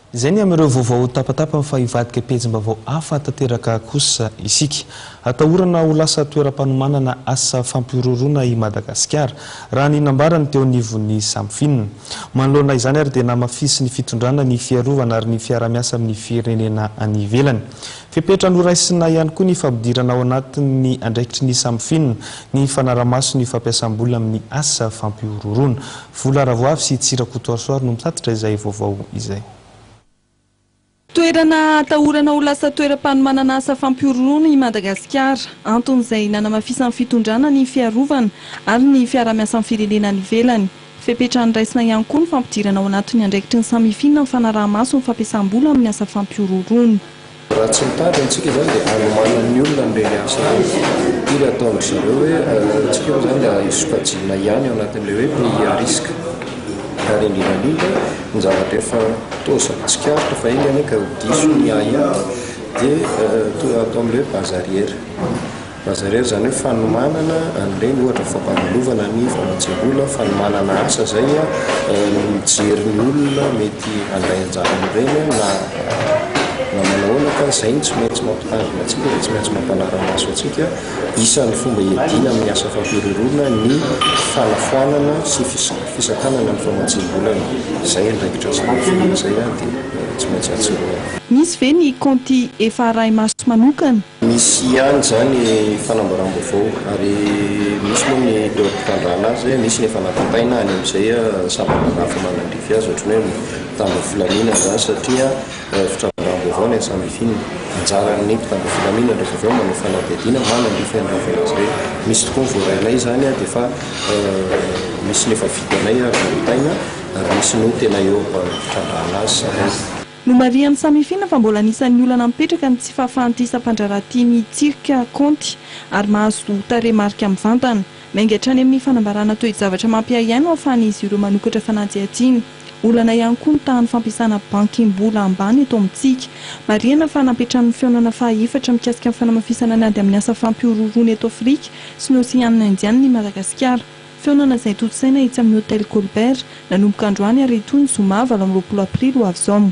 Izay ny amin'ireo vaovao tapatapany fa hivadika pejim-baovao hafa tanteraka kosa isika. Atahorana ho lasa toeram-panomanana asa fampihorohoroana i Madagasikara, raha ny nambarany teo anivon'ny Samfinina. Manoloana izany ary dia namafisin'ny fitondrana ny fiarovana ary ny fiaraha-miasa amin'ny firenena any ivelany. Fepetra noraisina ihany koa ny fampidirana ao anatin'ny andraikitry ny Samfinina ny fanarahamaso ny fampiasam-bola amin'ny asa fampihorohoroana. Vola Ravoavy sy Tsy Rakotoarisoa no mitatitra izay vaovao izay. Toerana atahorana ho lasa toeram-panomanana asa fampihorohoroana i Madagasikara. Anton'izay nanamafisan'ny fitondrana ny fiarovana ary ny fiaraha-miasan'ny firenena any ivelany. Fepetra andraisina ihany koa ny fampidirana ao anatin'ny andraikitry ny Samifin ny fanaraha-maso ny fampiasam-bola amin'ny asa fampihorohoroana. Raha tsy mitady antsika izany dia anomanan'ny olona an'ireny asa ireny. Firy ataon-dry zareo hoe antsika moa izany dia sokajiana ihany ao anatin'ilay hoe pays à risque. Ary indrindra indrindra ny zavatra efa toa zavatra tsikaritro fa enga anie ka ho diso ny ahiahy dia toa ataon'ilay hoe base arrière. Lazaina irery izany hoe fanomanana an'ireny ohatra fampandalovanana ny famatsiam-bola, fanomanana asa izay ny mijery ny olona mety handray anjara amin'ireny na na manao ahoana fa izay no tsy maintsy mampitandrina antsika dia tsy maintsy mampanara-maso antsika. Isan'ny fomba hiadiana amin'ny asa fampihorohoroana ny fanafoanana sy fisa- fisakanana ny famatsiam-bolana. Izay andraikitra sy ny fomba izay dia tsy maintsy atsoroana. Misy ve ny kaonty efa arahi-maso manokana Misy ihany izany fanambaram-baovao ary misy moa ny teo am-pitandrana azy, misy ny efa natontaina any amin'izay sampanana hafa manandrify azy ohatran'ny hoe mpitandro filaminana izany satria fitrandraham-baovao no iasam-bifinina. Anjaran'ny mpitandro filaminana rehefa avy eo manao fanadihadiana manandrify an'ireny vaovao ireny. Misy tokoa ny voarainay izany dia efa misy ny efa vitanay ary tontaina ary misy no tena eo am-pitrandrahana azy zareo. Nomarihan'i Samifina fa mbola anisan'ny olana mipetraka ny tsy fahafahan'ity sampandraharaha ity mitsirika kaonty ary mahazo tarehimarika mivantana. Miainga hatrany amin'ny fanambarana toe-javatra mampiahiahy no ahafahan'izy ireo manokatra fanadihadiana. Olana ihany koa ny tahan'ny fampiasana bankim-bola ambany eto amintsika. Marihana fa nampitran'ny fihaonana fahaefatra mikasika ny fanamafisana ny ady amin'ny asa fampihorohoroana eto Afrika sy ny Oseanina Indianina i Madagasikara. Fihaonana izay tontosaina etsy amin'ny Hôtel Colbert, nanomboka androany ary hitohy ny zoma valo amby roapolo aprily ho avy izao.